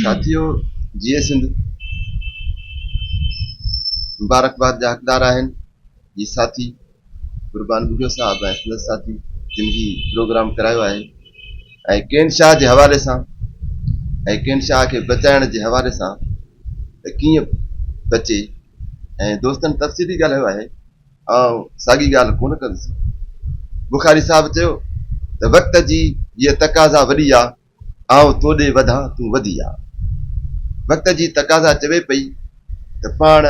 ساٿيو، جيئي سنڌ مبارڪباد جا حقدار آهن جي ساٿي قربان ٻگهيو صاحب ۽ سندس ساٿي جن هي پروگرام ڪرايو آهي ۽ ڪين شاهه جي حوالي سان ۽ ڪين شاهه کي بچائڻ جي حوالي سان ته ڪيئن بچي ۽ دوستن تفصيلي ڳالهايو آهي آئون ساڳي ڳالهه ڪونه ڪندس بخاري صاحب چيو ته وقت جي هيء تقاضا وڏي آ آئون تو ڏي وڌان تون وڌي آ. وقت جي تقاضا چوي پئي ته پاڻ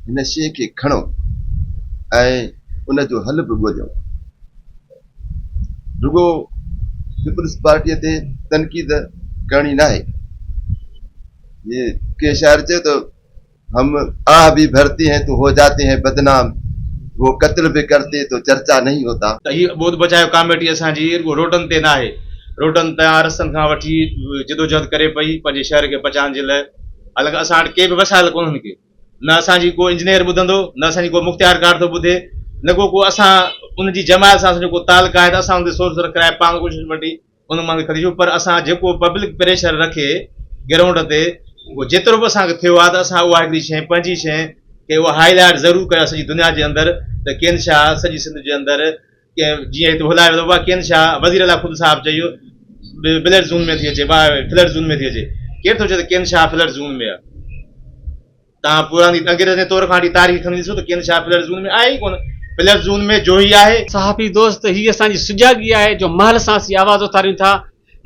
هن شيء کي کڻو ۽ ان جو حل به ڳوليو. رڳو پيپلز پارٽيء تي تنقيد ڪرڻي ناهي. جيئن ڪنهن شاعر چيو ته ھم آھ بي ڀرتي ھين تو ھو جاتي ھين بدنام ھو قتل بي ڪرتي تو چرچا نھين ھوتا. ته هي ٻوڌ بچايو ڪاميٽي اسان جي رڳو روڊن تي ناهي، روڊن تان رستن کان وٺي جدوجهد ڪري پئي پنهنجي شهر کي بچائڻ جي لاء، حالانڪه اسان وٽ ڪي به وسائل ڪونهن ڪي نه اسان جي ڪو انجنيئر ٻڌندو نه اسان جي ڪو مختيارڪار ٿو ٻڌي نه ڪو ڪو اسان ان جي جماعت سان اسان جو ڪو تعلق آهي ته اسان ان تي سورسر ڪرائي پاڻ ڪوشش وٽي ان مان به ڪري ڇڏيو پر اسان جيڪو پبلڪ پريشر رکي گرائونڊ تي اهو جيترو به اسان کي ٿيو آهي ته اسان اها هڪڙي شيء پنهنجي شيء کي اهو هائي لائيٽ ضرور ڪيو آهي سڄي دنيا جي اندر ته ڪين شاهه سڄي سنڌ جي اندر ڪنهن جيئن هتي هلايو ويندو اها ڪين شاهه وزير اعليٰ خود صاحب چيو بلر زون ۾ ٿي اچي فلر زون ۾ ٿي اچي ڪير ٿو چئي ته ڪين شاهه فلر زون ۾ آهي توهان پراڻي ٽنگريز ۽ تور کانٽي تاريخ کڻي ڏسو ته ڪين شاهه پلئرز زون ۾ آهي ئي ڪونه. پلئرز زون ۾ جوهي آهي. صحافي دوست هي اسان جي سجاڳي آهي جو مهل سان اسين آواز اٿاريون ٿا.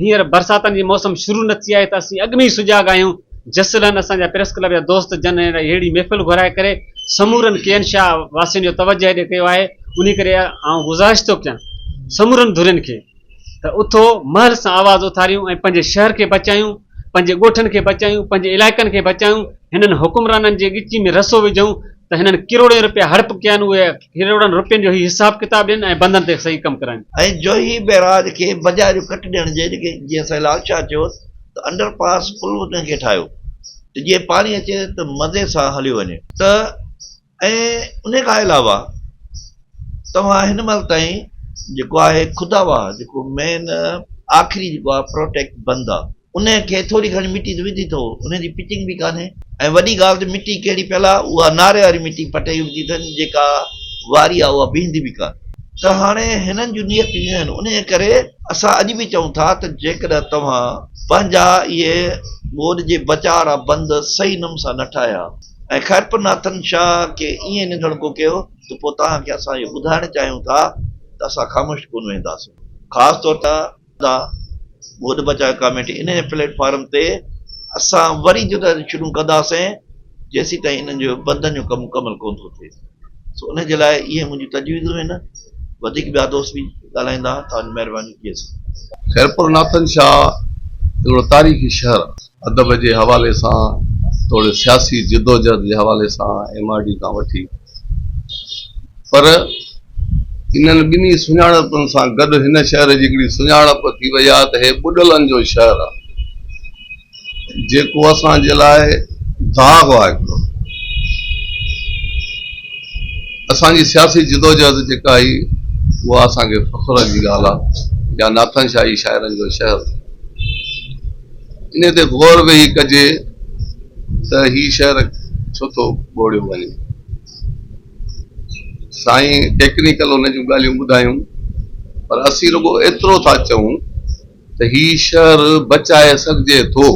هينئر برساتن جي موسم شروع نه ٿي آهي ته اسين اڳ ۾ ئي سجاڳ آهيون. جسلن اسان جا پريس ڪلب جا دوست جن ههڙي محفل گهرائي ڪري سمورن ڪين شاهه واسين جو توجه هيڏي ڪيو آهي انهي ڪري آئون گذارش ٿو ڪيان سمورن ڌرين کي. ته اٿو مهل سان آواز اٿاريون ۽ پنهنجي شهر کي بچايون، پنهنجي ڳوٺن کي بچايون، پنهنجي علائقن کي بچايون، هنن حڪمرانن جي ڳچي ۾ رسو وجهون ته هنن ڪروڙين رپيا هڙپ ڪيا آهن اهي ڪروڙن رپين جو هي حساب ڪتاب ڏين ۽ بندن تي صحيح ڪم ڪرائين. ۽ جوهي بئراج کي بجاريون ڪٽ ڏيڻ جي ڏکي جيئن سائين لال شاهه چيو ته انڊر پاس پل به ڪنهن کي ٺاهيو ته جيئن پاڻي اچي ته مزي سان هليو وڃي. ته ۽ انهي کان علاوه توهان هن مهل تائين جيڪو آهي خدا واه جيڪو مين آخري جيڪو آهي پروٽيڪٽ بند آهي انهي کي ٿوري گهڻي مٽي ته وڌي ٿو انهي جي پچنگ به ڪانهي ۽ وڏي ڳالهه ته مٽي ڪهڙي پيل آهي اها ناري واري مٽي پٽي وڌي اٿن جيڪا واري آهي اها بيهندي به ڪانهي ته هاڻي هنن جون نيتون اهي آهن انهي ڪري اسان اڄ به چئون ٿا ته جيڪڏهن توهان پنهنجا اهي ٻوڏ جي بچاء وارا بند صحيح نم سان نه ٺاهيا ۽ خيرپور ناٿن شاهه کي ائين ننڌڻڪو ڪيو ته پوء توهان کي اسان اهو ٻڌائڻ چاهيون ٿا ته اسان خاموش ڪونه ويهنداسون. خاص طور تي ادا ٻوڏ بچايو ڪاميٽي انهيء پليٽ فارم تي اسان وري جدوجهد شروع ڪنداسين جيسيتائين انهن جو بندن جو ڪم مڪمل ڪونه ٿو ٿئي سو انهيء جي لاء اهي منهنجون تجويزون هن وڌيڪ ٻيا دوست به ڳالهائيندا توهان جي مهرباني ڪيس. خيرپور ناٿن شاهه هڪڙو تاريخي شهر آهي. ادب جي حوالي سان توڙي سياسي جدوجهد جي حوالي سان ايم آر ڊي کان وٺي پر انهن ٻنهي سڃاڻپن سان گڏ هن شهر جي هڪڙي سڃاڻپ ٿي وئي آهي ته هي ٻڏلن جو شهر آهي جيڪو اسان جي لاء داغ آهي هڪڙو اسان جي سياسي جدوجهد جيڪا هئي اها اسان کي فخر جي ڳالهه آهي يا ناٿن شاهي شاعرن جو شهر انهيء تي غور ويهي ڪجي ته هي شهر ڇو ٿو ٻوڙيو وڃي. سائين ٽيڪنيڪل ان جون ڳالهيون ٻڌايون پر اسين رڳو ايترو ٿا چئون ته هي شهر بچائي سگهجي ٿو،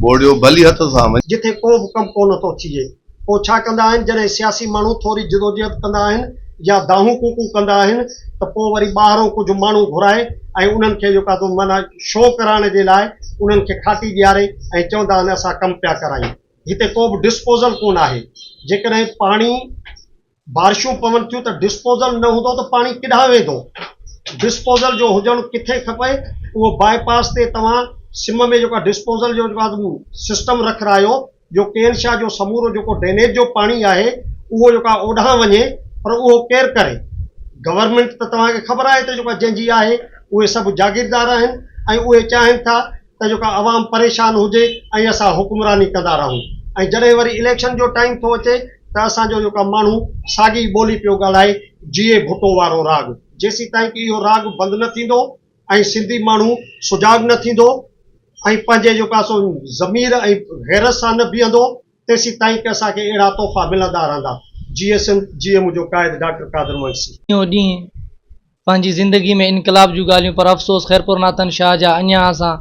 ٻوڙيو ڀلي هٿ سان وڃي. جتي ڪو به ڪم ڪونه ٿو ٿئي. اوڇا ڪندا آهن، جڏهن سياسي ماڻهو ٿوري جدوجهد ڪندا آهن يا دانهون ڪوڪون ڪندا آهن ته پوء وري ٻاهرون ڪجهه ماڻهو گهرائي ۽ انهن کي اهو ڪاڌو معنيٰ شو ڪرائڻ جي لاء انهن کي کاٽي ڏياري ۽ چوندا آهن اسان ڪم پيا ڪرايون. هتي ڪو به ڊسپوزل ڪونه آهي. جيڪڏهن پاڻي. بارشون پون ٿيون ته ڊسپوزل نه هوندو ته پاڻي ڪيڏانهن ويندو؟ ڊسپوزل جو هجڻ ڪٿي کپي؟ اهو باء پاس تي توهان سم ۾ جيڪو ڊسپوزل جو جيڪو آهي سسٽم رکرايو جو ڪي اين شاهه جو سمورو جيڪو ڊينيج جو پاڻي آهي اهو جيڪو آهي اوڏانهن وڃي پر اهو ڪير ڪري؟ گورنمينٽ ته توهان کي خبر آهي ته جيڪو جنهن جي آهي اهي سڀ جاگيردار آهن ۽ اهي چاهين ٿا ته جيڪا عوام پريشان هجي ۽ اسان حڪمراني ڪندا رهون ۽ جڏهن وري اليڪشن جو ٽائيم ٿو اچي ته اسان جو جيڪا ماڻهو ساڳي ٻولي پيو ڳالهائي جيئي ڀٽو وارو راڳ جيسيتائين ته اهو راڳ بند نه ٿيندو ۽ سنڌي ماڻهو سجاڳ نه ٿيندو ۽ پنهنجي جيڪا سو ضمير ۽ غيرت سان نه بيهندو تيسيتائين ته اسان کي اهڙا تحفا ملندا رهندا جيئي سنڌ جيئي منهنجو قائد ڊاڪٽر قادر منگسي. ڏينهون ڏينهن پنهنجي زندگي ۾ انقلاب جون ڳالهيون پر افسوس خيرپور ناتن شاهه جا اڃان اسان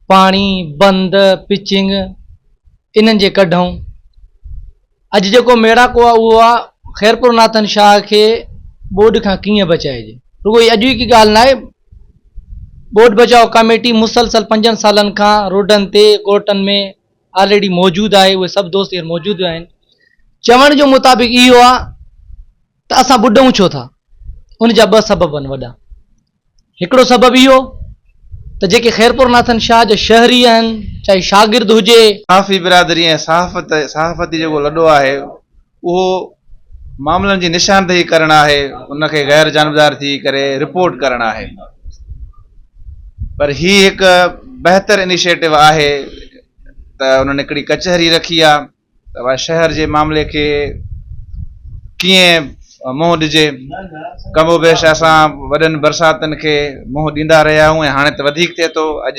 پاڻي، بند، پچنگ انهن جي ڪڍئون. اڄ جيڪو ميڙاڪو آ اهو آ خيرپور ناتن شاهه کي ٻوڏ کان ڪيئن بچائجي. رڳو هي اڄوڪي ڳالهه ناهي ٻوڏ بچاء ڪاميٽي مسلسل پنجن سالن کان روڊن تي ڳوٺن ۾ آلريڊي موجود آهي اهي سڀ دوست هينئر موجود آهن چوڻ جو مطابق اهو آ ته اسان ٻڏئون ڇو ٿا؟ ان جا ٻه سبب آهن وڏا. هڪڙو سبب اهو ته جيڪي خيرپور ناٿن شاهه جا شهري آهن، چاهي شاگرد هجي، صحافي برادري ۽ صحافت صحافتي جيڪو لڏو آهي اهو معاملن جي نشاندهي ڪرڻ آهي ان کي غير جانبدار ٿي ڪري رپورٽ ڪرڻ آهي پر هي هڪ بهتر انيشيٽو آهي ته انهن هڪڙي ڪچهري رکي آهي ته شهر جي معاملي کي ڪيئن منهن ڏجي، ڪم و بيش اسان وڏن برساتن کي منهن ڏيندا رهيا آهيون ۽ هاڻي ته وڌيڪ ٿئي ٿو، اڄ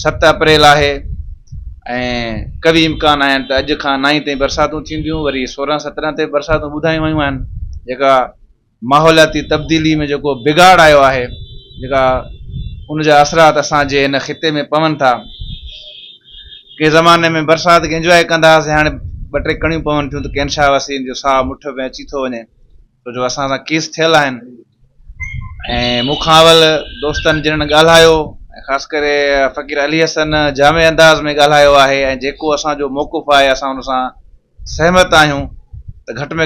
ست اپريل آهي ۽ قوي امڪان آهن ته اڄ کان نائين تائين برساتون ٿينديون، وري سورهن سترهن تي به برساتون ٻڌايون ويون آهن جيڪا ماحولياتي تبديلي ۾ جيڪو بگاڙ آيو آهي، جيڪا ان جا اثرات اسان جي هن خطي ۾ پون ٿا. ڪنهن زماني ۾ برسات کي انجواء ڪندا هئاسين، هاڻي ٻه ٽي ڪڻيون پون ٿيون ته ڪين شاهه وسيم جو ساهه مٺ ۾ اچي ٿو وڃي، ڇو جو اسان سان ڪيس ٿيل آهن. ۽ مون کان اول دوستن جنن ڳالهايو ۽ خاص ڪري فقير علي حسن جامع انداز ۾ ڳالهايو آهي ۽ جيڪو اسان جو موقف آهي اسان ان سان سهمت آهيون ته گهٽ ۾